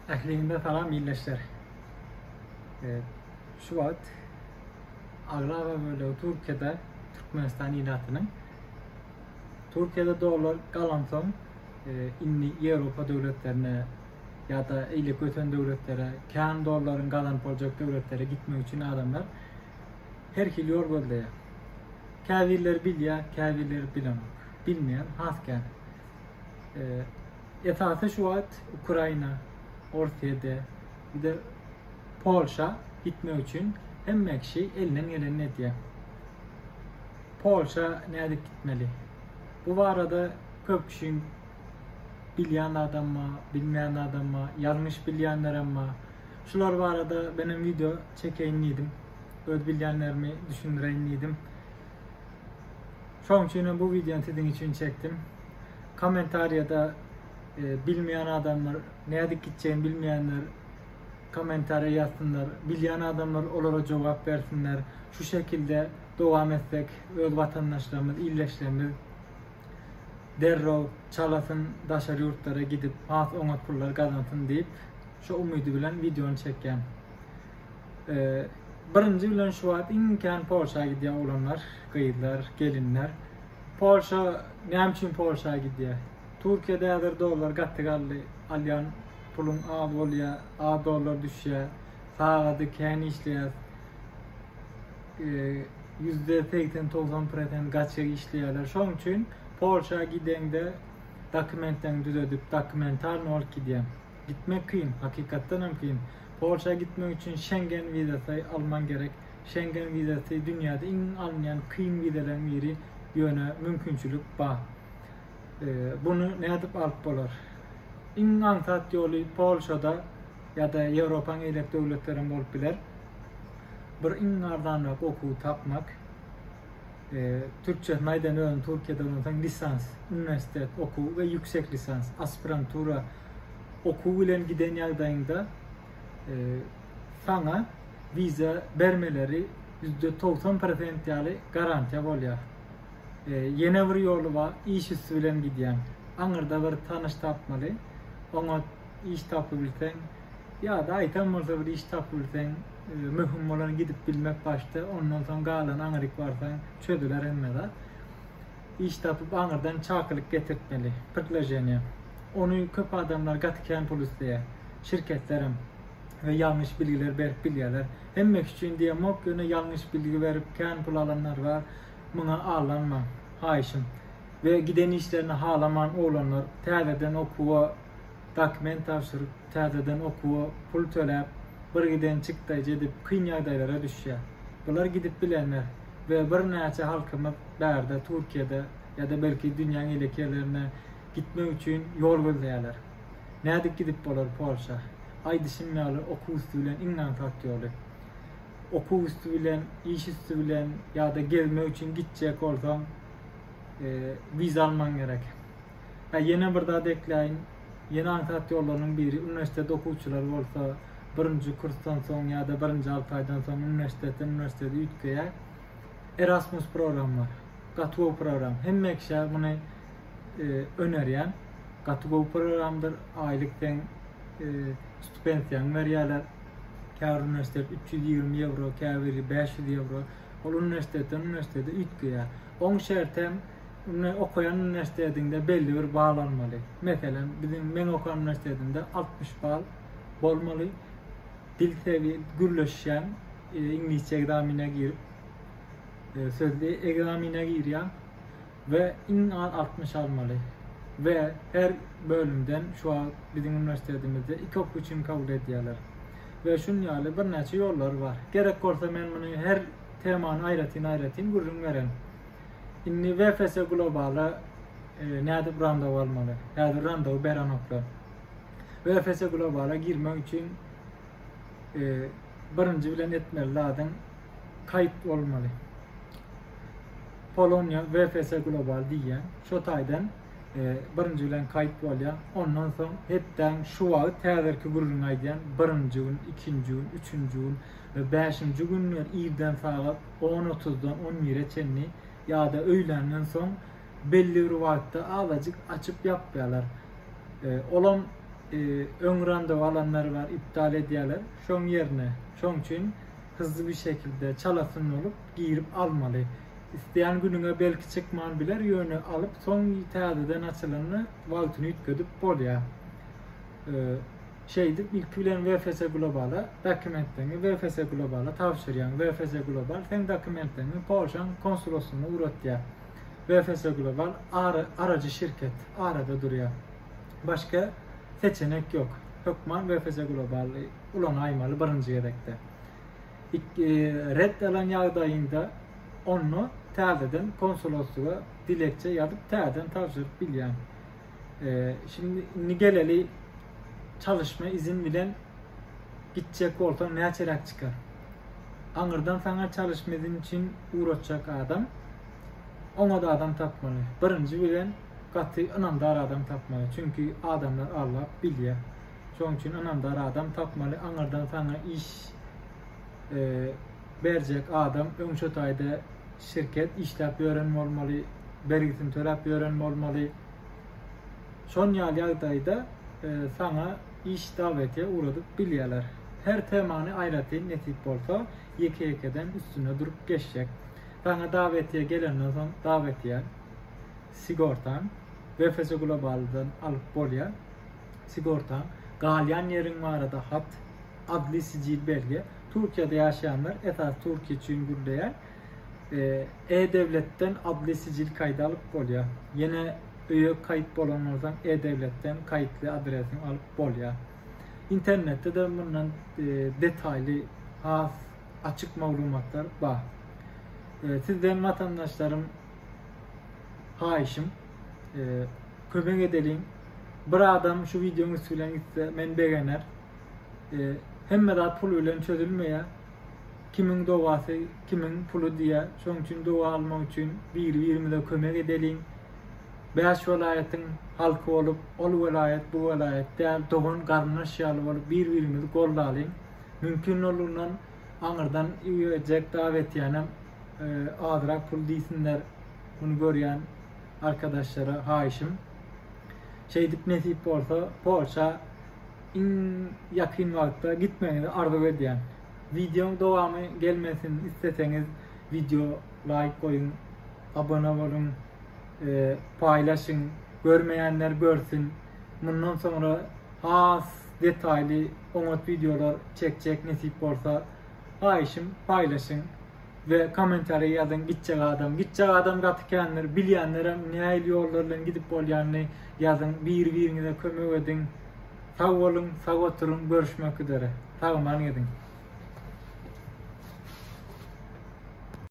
Ähliňize salam ildeşler. E, şu wagt aglaba bölegi Türkiýede Türkmenistan ilatynyň Türkiýede dollar galansoň e, indi Ýewropa döwletlerine ýa-da eýle kösen döwletlere, kän dollaryň gazanyp boljak döwletlere gitmek üçin adamlar her hili ýol gözleýär. Käbirleri bilýär, käbirleri bilenok. Bilmeýän has kän. E, esasy şu wagt Ukraina, Orsýede, bir Polşa gitmek üçin hemme kişi elinden gelenini edýär. Polşa nädip gitmeli? Bu barada köp kişiň bilýän adamma, bilmeýän adamma, ýalňyş bilýänlerem bar. Şular barada benim video çekeýin diýdim. öz bilýänlerimi düşündireýin diýdim. Şoň üçin hem bu wideony siziň üçin çekdim. Kommentariýada e, bilmeýän adamlar, nädip gitjegini bilmeýänler kommentariýa ýazsynlar. Bilýän adamlar olara jogap bersinler. Şu şekilde dowam etsek, öz watandaşlarymyz, ildeşlerimiz derrew çalasyn daşary ýurtlara gidip has oňat pullar gazansyn diýip şu umydy bilen wideony çekýän. Birinji bilen şu wagt iň kän Polşa gidýär oglanlar, gyzlar, gelinler. Polşa näme üçin Polşa gidýär? Türkiýede häzir dollar gaty galdy. Alýan puluň az bolýar, az dollar düşýär. Sagady kän işleýär. Ýüzde segsen togsan prosent gaçak işleýärler. Şoň üçin Polşa gideňde dokumentleriňi düzedip, dokumentalny bolup gidýär. Gitmek kyn, hakykatdan hem kyn. Polşa gitmek üçin Şengen wizasy almaň gerek. Şengen wizasy dünýäde iň alynýan kyn wizalaryň biri, ýöne mümkinçilik bar. Buny nädip alyp bolar? Iň aňsat ýoly Polşada ýa-da Ýewropaň eýlek döwletleri hem bolup biler. Bir iň arzanrak okuwy tapmak. Türkçesini aýdan özüni Türkiýede ondan soň lisans, uniwersitet okuwy we ýüksek lisans, aspirantura Okuw bilen giden ýagdaýyňda saňa wiza bermeleri ýüzde togsan prosent ýaly garantiýa bolýar. Ýene bir ýoly bar, iş üsti bilen gidýäň. Aňyrda bir tanyş tapmaly, oňa iş tapybilseň ýa-da aýtam bolsa bir iş tapybilseň, möhüm bolan gidip bilmek başda, ondan soň galan aňryk barsaň çözüler hemme zat. Iş tapyp aňyrdan çakylyk getirtmeli, prtloženiýe. Ony köp adamlar gaty kän pul isleýär. Şirketlerem we ýalňyş bilgiler berip bilýärler. Hemme iş üçin diýemok, ýöne ýalňyş bilgi berip kän pul alanlar bar. Muňa aldanmaň, haýyşym. We giden işlerini halaman oglanlar täzeden okuwa dokument tabşyryp, täzeden okuwa pul töläp, bir giden çykdaýjy edip kyn ýagdaýlara düşýär. Bular gidip bilenler we birnäçe halkymyz bärde Türkiýede ýa-da belki dünýäň elek ýerlerine gitmek üçin ýol gözleýärler. Nädip gidip bolar Polşa? Aýdyşym ýaly okuw üsti bilen iň aňsat ýoly. Okuw üsti bilen, iş üsti bilen ýa-da gezmek üçin gitjek bolsaň wiza almaň gerek. He, ýene bir zat ekläýin, ýene aňsat ýollarynyň biri, uniwersitet okuwçylary bolsa birinji kursdan soň ýa-da birinji alty aýdan soň uniwersitetden uniwersitete üýtgeýär. Erasmus program bar. Gaty gowy program. Hemme kişä muny önerýän. Gaty gowy programdyr. Aýlyk deň stipensiýaňy berýärler. Käbir uniwersitet üç ýüz ýigrimi ýewro, käbiri bäş ýüz ýewro. Ol uniwersitetden uniwersitete üýtgeýär. Oň şerti hem Indi okaýan uniwersitetiňde belli bir bal almaly. Meselem, biziň meň okan uniwersitetinde altmyş bal bolmaly. Dil sewi gürleşýäň, e, iňlisçe ekzamine girip, e, sözli ekzamine girýäň we iň az altmyş almaly. We her bölümden şu wagt biziň uniwersitetimizde iki okuw üçin kabul edýärler. We şun ýaly birnäçe ýollary bar. Gerek bolsa men muny her temany aýratyn-aýratyn gürrüň beren. Indi VFS Globala nädip randaw almaly? Häzir randaw berenoklar. VFS Globala girmek üçin e, birinji bilen etmeli zadyň kayt olmaly. Polonya VFS Global diýýän. Şu taýdan e, birinji bilen kayt bolýar. Ondan soň hepden şu wagt häzirki gürrüňi aýdýan birinji gün, ikinji gün, üçünji gün we bäşinji günler irden sagat On otuzdan on bire çenli ýa-da öýländen soň belli bir wagtda azajyk açyp-ýapýarlar. Olam öň randewu alanlar bar, iptal edýärler. Şoň ýerine, şoň üçin hyzly bir şekilde çalasyn bolup girip almaly. Isleýän günüňe belki çykman biler, ýöne alyp soň täzeden açylanda wagtyny üýtgedip bolýar. Şeýdip, ilki bilen VFC Global-a dokumentleriňi VFC Global-a tabşyrýaň. VFC Global seň dokumentleriňi Polşaň konsuloslygyna ugratýar. VFC Global arajy şirket, arada durýar. Başga seçenek ýok. Hökman VFC Global-y ulanaýmaly birinji gezekde. Ret alan ýagdaýyňda onda täzeden konsuloslyga dilekçe ýazyp täzeden tabşyryp bilýäň. Ee, şimdi indi geleli çalışma izin bilen gitjek bolsaň näçeräk çykar? Aňyrdan sana çalışma izin üçin uğratjak adam oňa da adam tapmaly. Birinji bilen gaty ynamdar adam tapmaly. Çünki adamlar allap bilýär. Şonuň üçin ynamdar adam tapmaly. Aňyrdan sana iş e, berjek adam öň şo taýda şirket işläp ýören bolmaly, bergisini töläp ýören bolmaly. Şon ýaly ýagdaýda saňa iş dawetiýe ugradyp bilýärler. Her temany aýratyn nesip bolsa ýeke-ýekeden üstünde durup geçjek. Saňa dawetiýe gelenden soň dawetiýe sigortaň, BFS Globaldan alyp bolýar sigortaň, galýan ýeriň barada hat, adli-sijil belgi, Türkiýede ýaşaýanlar, esasy Türkiýe üçin gürleýän, E-döwletden adly sijil kaýdy alyp bolýar. Ýene öýe kaýyt bolan bolsaň, E-döwletden kaýytly adresiňi alyp bolýar. Internetde-de mundan detaýly has açyk maglumatlar bar. Sizden watandaşlarym haýyşym, kömek edeliň. Bir adam şu wideoň üsti bilen gitse, meni begener. E, hemme zat pul bilen çözülmeýär. Kimiň dowasy, kimiň puly diýýär. Şonuň üçin dowa almak üçin biri-birimize kömek edeliň. Bäş welaýatyň halky bolup, ol welaýat, bu welaýat däl, dogan garyndaş ýaly bolup bir-birimizi goldalyň. Mümkin bolundan aňyrdan iberjek dawa etýänem e, azrak pul diýsinler. Muny görýän arkadaşlara haýyşym. Şeýdip nesip bolsa Polşa Iň ýakyn wagtda gitmegiňizi arzuw edýän. Wideoň dowamy gelmesin isleseňiz wideo laýk goýuň abone boluň paýlaşyň görmeýänler görsün mundan soňra has detaýly oňat wideolar çekjek nesip bolsa haýyşym paýlaşyň. we komentariýa ýazyň gitjek adam gitjek adam gaty kändir bilýänlerem näil ýollar bilen gidip bolýanyny ýazyň biri biriňize kömek ediň sag boluň sag oturyň görüşmek üzere sagaman geziň.